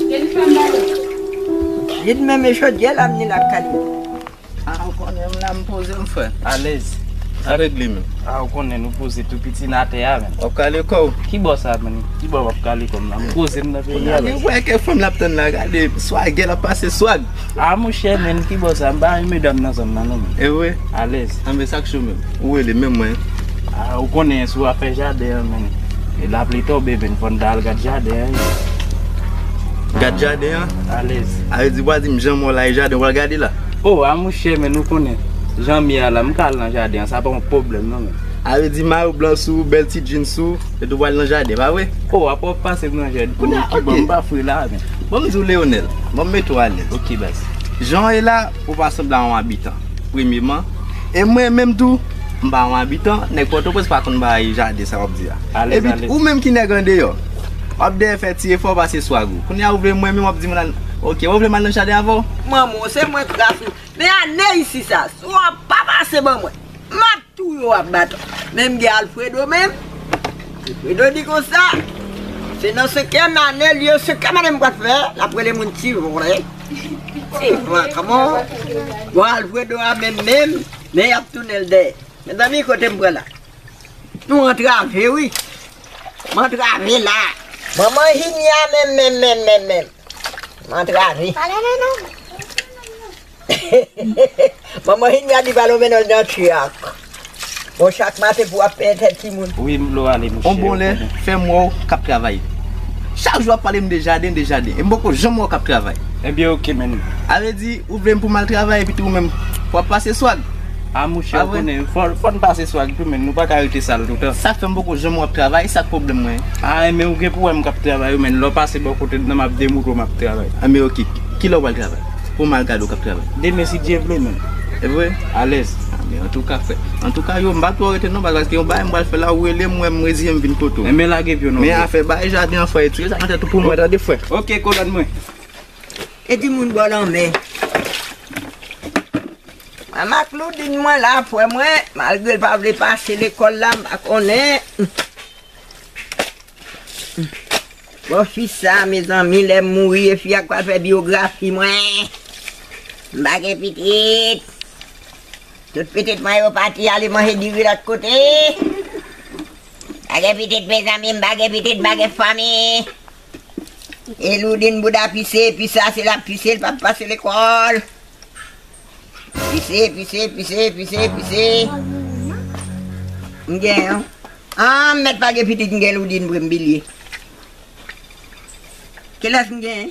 Ke li pa ba ou. Li t menmen chodyèl amnil ak kalin. Ah ou konnen m la m poze m frè. Alèz. Sa regle menm. Ah ou konnen nou poze tou piti n atè a menm. Wap kale kò w. Ki bò sa menm. Ki bò wap kale kò m la. M poze m nan peyi a. Kounye a li wè ke fanm lap tann la gade swagè lap pase swag. Ah monchè menn kibò sa m pa renmen medam nan zòn nan non menn. Evre? Alèz. Ah men sak cho menm. Ou rele menm mwen. Ah ou konnen sou afè jaden an menn. E lapli tonbe menn fòn ta al gad jaden an ui. Gad jaden an? Alèz. Ah yo di ou pa dim jan mò la e jaden ou pral gade la? Oh ah monchè menn ou konnen jan m ye a la m ka al nan jaden an sa pa yon pwoblèm non menn. Ah yo di mayo blan sou ou bèl ti jeans sou ou e tou pral nan jaden pa vre? Oh apa wap pase m nan jaden? Kounye a kibò m pa fre la menn. Banm di w Leonel, banm mete w alèz ok baz. Jan w ye la, ou pa sanble a yon abitan, premyeman, e mwen menm tou, m pa yon abitan, nèg Pòtoprens pa konn bay jade sa w ap di a. Epi tou, ou menm ki nèg andeyò, w ap dèyè fè ti efò pase sou agro. Kounye a ou vle mwen menm w ap di m nan, ok, wè ou vle m al nan jaden avè w? Manman w, se mwen k rase w. Men ane isi sa, si w pa pase ban mwen, m ap. Tou yo ap bat menm gen alfredo menm alfredo di konsa se nan senkyèm ane li yo senkyèm ane mwen fè lap rele moun ti vòlè ti vagabon bon alfredo a menm menm men yap tounenl dèyè mezanmi kotem pran la nou antrave wi m antrave la manman jimmy a menm menm menm menm m antrave. Manman Hinia di Valo mennen l nan chak. Bon chak maten pou ap penyen tèt timoun. Wi m lo ale mouche. On bon lè fèm wè w kap travay. Chak jou ap pale m de jaden de jaden e m poko janm wè w kap travay. Ebyen ok menn. A vle di ou vle m pou m al travay epi tou ou menm wap pase swag. A mouche ou konnen fò n pase swag tou menn nou paka rete sal toutan. Sak fè m poko janm wè w ap travay sak pwoblèm mwen. A enben ou gen pou wè m kap travay wi menn lè w pase bò kote m nan map demoutre w map travay. Enben ok. Kilè w pral travay? Poum al gade w kap travay. Demen si Dye vle men. Evre? Alèz. Amen. Antouka frè. Antouka yo m pa twò rete non paske yon bagay m pral fè la ou relem m wè m reziyen m vin kote w. Enben lage pyon non frè. Men afè bay jaden an frè e tire sa nan tèt ou pou mwen tande frè. Ok kolòn mwen. E di moun bò lanmè. Mwen Makloudine mwen la frè mwen malgre l pa vle pase lekòl la m pa konnen. Bon fi sa mezanmi lèm mouri e fi a k pral fè biografi mwen m pa gen pitit tout pitit mwen yo pati ale manje diri lòt kote m pa gen pitit mezanmi m pa gen pitit m pa gen fanmi e loudine bouda pise pi sa se lap pise l pap pase lekòl. Pise, pise, pise, pise, pise. M gen yon. An, m mèt pa gen pitit m gen loudin vre m bilye. Kilès m gen?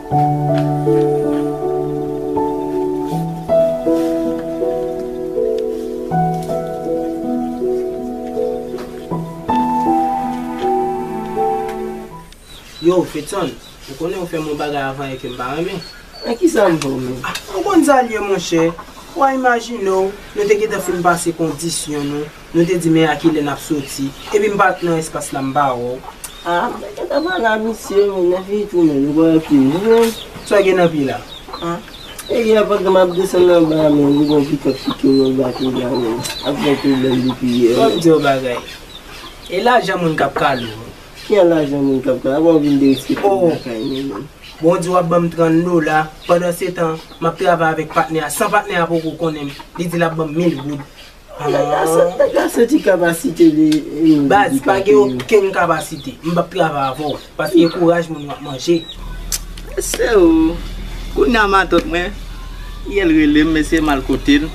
Yow Fetson, ou konnen ou fè m yon bagay avan yè ke m pa renmen. Men kisa m fè w menm? Ou konn sa l ye monchè, wa imajine w, nou te gentan fin pase kondisyon nou, Nou te di men a kilè nap soti. Epi m pa t nan espas la m pa wè w. Ah m te gentan pale a misye men lè fini tounen nou pa pi jwenn. Sa w gen nan pye la? Ah. E yè pandan map desann anba a men li gon pikòt ki kenbe m pa tou la men ap gen pwoblèm depi yè. Fò m di w yon bagay. E lajan moun kap kale w. Ki an lajan moun kap kale m? Apa w vin derespekte m lakay mwen menm. Bon w di wap banm 30 dola pandansetan map travay avèk patnè a san patnè a poko konnen m li di lap banm 1000 goud. Aah Gal santi kapasite li yo Baz pa gen okenn kapasite m pap travay avè w paske kouraj moun wap manje. Mesye oo Kounya matant mwen Yel relem mesye mal kotel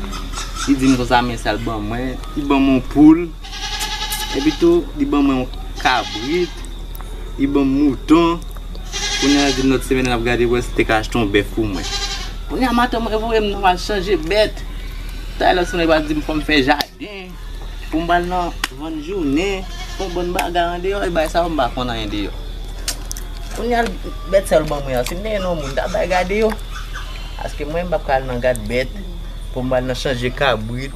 Li dim konsa men sal ban mwen Li banm yon poul Epi tou li ban mwen yon kabrit Li banm mouton Kounya lap dim lot semèn lap gade pou wè sil te ka achte yon bèf pou mwen Kounya matant mwen voyem nan mal chanje bèt. Taylor sonje pral dim fòm fè jaden poum pral nan vann jounen fon bon bagay andeyò e bay sa yo mpa konn anyen deyò kounya bèt sa yo ban mwen an sim te gen yon moun mta bay gade yo paske mwen mpap ka al nan gad bèt poum al nan chanje kabrit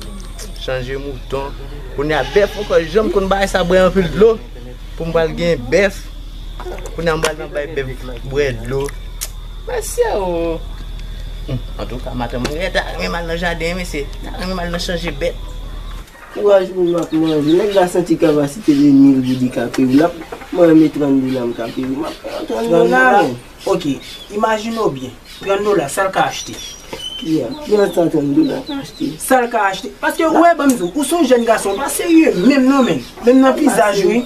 chanje mouton kounya bèf mwen kwè janm konn bay sa bwè anpil dlo. Pou m pral gen bèf. Kounye a m pral nan bay bèf bwè dlo. Mesye o! Antouka maten mwen genlè ta renmen m al nan jaden wi mesye. M ta renmen m al nan chanje bèt. Kouraj pou m ap manje. Nèg la santi kavasite de mil goud li ka peye. Mwen renmen 30 dola m ka peye. M ap pran 30 dola men. Ok, imajine w byen, 30 dola, sa l ka achte? Yeah, ki jan sa 30 dola ka achte? Sa l ka achte? Paske ou wè, ban m di w, ou se yon jèn gason, ou pa serye menm non menn. Menm nan vizaj ou.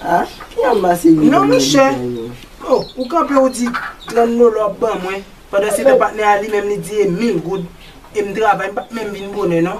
Ah, ki jan m pa serye menm nan vizaj ou? Non monchè, oh, ou kanpe ou di, 30 dola w ap ban mwen, pandansetan patnè a li menm li di e 1000 goud, e m travay, m pa t menm vin bonè non.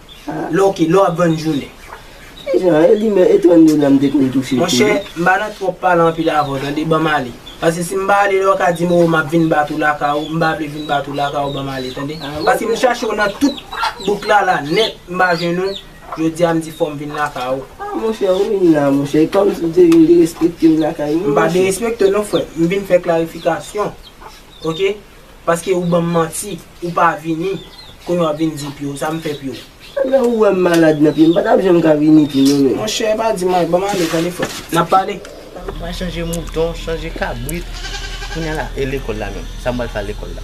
Lè ok, lè w ap vann jounen. Ki jan? E li menm, e tonnde la m te konn touche tou. Monchè, m pa nan twòp pale anpil avè w tande, ban m ale. Paske si m pa ale lè w ka di m oo m ap vin bat ou lakay ou, m pa vle vin bat ou lakay ou ban m ale tande. Paske m chache w nan tout bouk la la nèt m pa jwenn ou, jodi a m di fò m vin lakay ou. A monchè, ou vin la monchè, e kòmsi w te vin derespekte m lakay mwen monchè. M pa derespekte w non frè m, m vin fè klarifikasyon ok. Paske ou banm manti ou pa vini kounye wap vin di pyo sa m fè pyo. Lè ou wèm malad nan pye m pa tap janm ka vini pi non menm. Monchè pa di mwen banm ale tande frèm nap pale. Mwen chanje mouton chanje kabrit kounya la e lekòl la menm sa m pral fè a lekòl la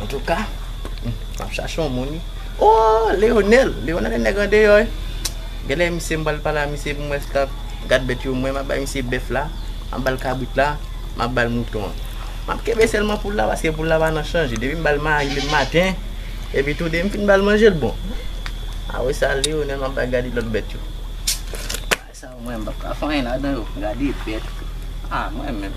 antouka map chache yon moun wi ooh Leonel Leonel e nèg andeyò wi genlè misye m pral pale a misye pou m wè si l ka gad bèt yo mwen map bay misye bèf la map bal kabrit la map bal mouton an. Map kenbe selman poul la paske poul la pa nan chanje depi m bal mari le maten epi tou depi m fin bal manje l bon a wè sa Leonel map bay gade lot bèt yo bagay sa yo mwen pap ka fè anyen ladan yo gade bèt a mwen menm.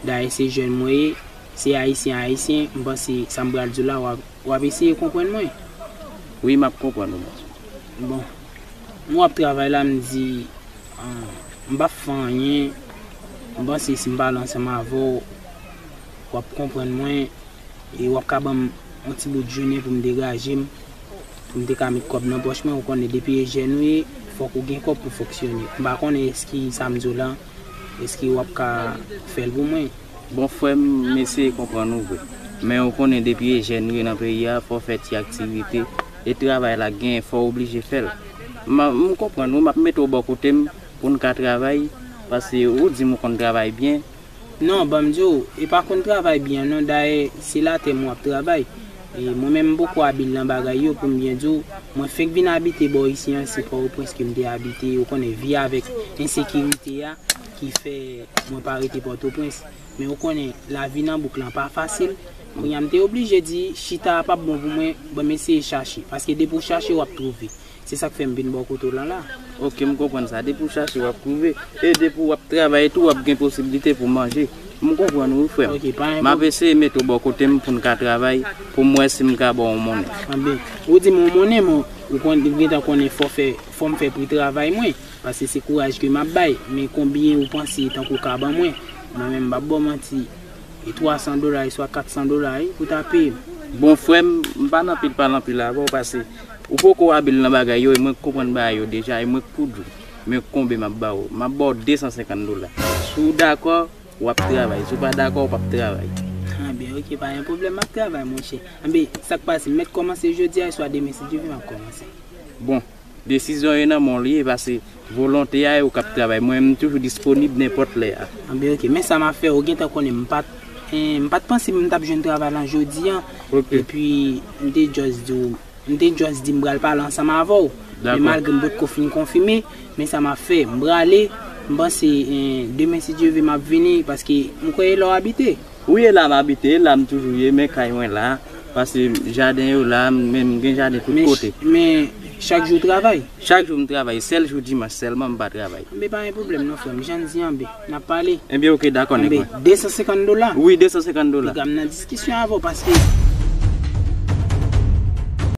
Dayè se jèn mwen ye, se Ayisyen a Ayisyen, m panse sa m pral di w la w ap eseye konprann mwen. Wi, m ap konprann ou. Bon, mwen ap travay la, m di, m p ap fè anyen, m panse si m pale ansanm avè w, w ap konprann mwen e w ap ka ban m yon ti bout jounen pou m degaje m, pou m te ka met kòb nan pòch mwen. Ou konnen depi e jèn ou ye, fòk ou gen kòb pou fonksyone. M pa konnen èske sa m di w la. Eske wap ka fel pou mwen. Bon frem m eseye konprann ou vre men ou konnen depi e jèn ou ye nan peyi a fò fè ti aktivite e travay la gen fò ou oblije fèl m konprann ou map mete w bò kotem poun ka travay paske ou dim ou konn travay byen. Non banm diw e pa konn travay byen non dayè se latèm wap travay Mwen menm m poko abil nan bagay yo poum byen diw, mwen fenk vin abite bò isi an se pòoprens kem te abite ou konnen vi avèk ensekirite a ki fè mwen pa rete pòtoprens men ou konnen lavi nan bouk lan pa fasil kounya m te oblije di chita a pap bon pou mwen bon m eseye chache paske depi ou chache wap twouve Se sak fè m vin ba w kote w la la. Ok, m konprann sa. Depi w chache w ap twouve. E depi w ap travay tou w ap gen posibilite pou w manje. M konprann ou wi frè m. M ap eseye mete w bò kote m pou n ka travay, pou m wè si m ka ba w yon monnen. Anben, ou di m yon monnen men ou gentan konnen fò fè, fò m fè pri travay mwen. Pase se kouraj ke m ap bay. Men konbyen ou panse tankou w ka ban mwen? Mwen menm m pap ba w manti. E twa san dola e swa kat san dola wi pou w ta peye m. Bon frè m, m pa nan pil pale anpil avè w pase. Ou poko abil nan bagay yo e mwen k konprann bagay yo deja e mwen k poud ou men konbe map ba ou map ba w 250 dola si w dakò wap travay si w pa dakò w pap travay. Anben ok pa gen pwoblèm map travay monchè anben sak pase m mèt kòmanse jodi a swa demen si Dye vle map kòmanse. Bon desizyon yo nan men w li ye pase Volonte a e ou kap travay mwen m toujou disponib nenpòt lè a. Anben ok men sa map fè ou gentan konnen m pat m pat panse m tap jwenn travay lan jodi an epi m te just di w m te just di m pral pale ansanm avè w men malgre m potko fin konfime men sa map fè m prale m panse demen si Dye ve map vini paske m kwè e la w abite. Ou ye la m abite, la m toujou ye men kay mwen la, pase jaden yo la, men m gen jaden tout kote. Men chak jou w travay? Chak jou m travay, sèl jou dimanch sèlman m pa travay. Anben pa gen pwoblèm non frè m, jan n di anben, n ap pale. Anben ok dakò nèg mwen. Anben 250 dola? Wi 250 dola. Piga m nan diskisyon avè w paske.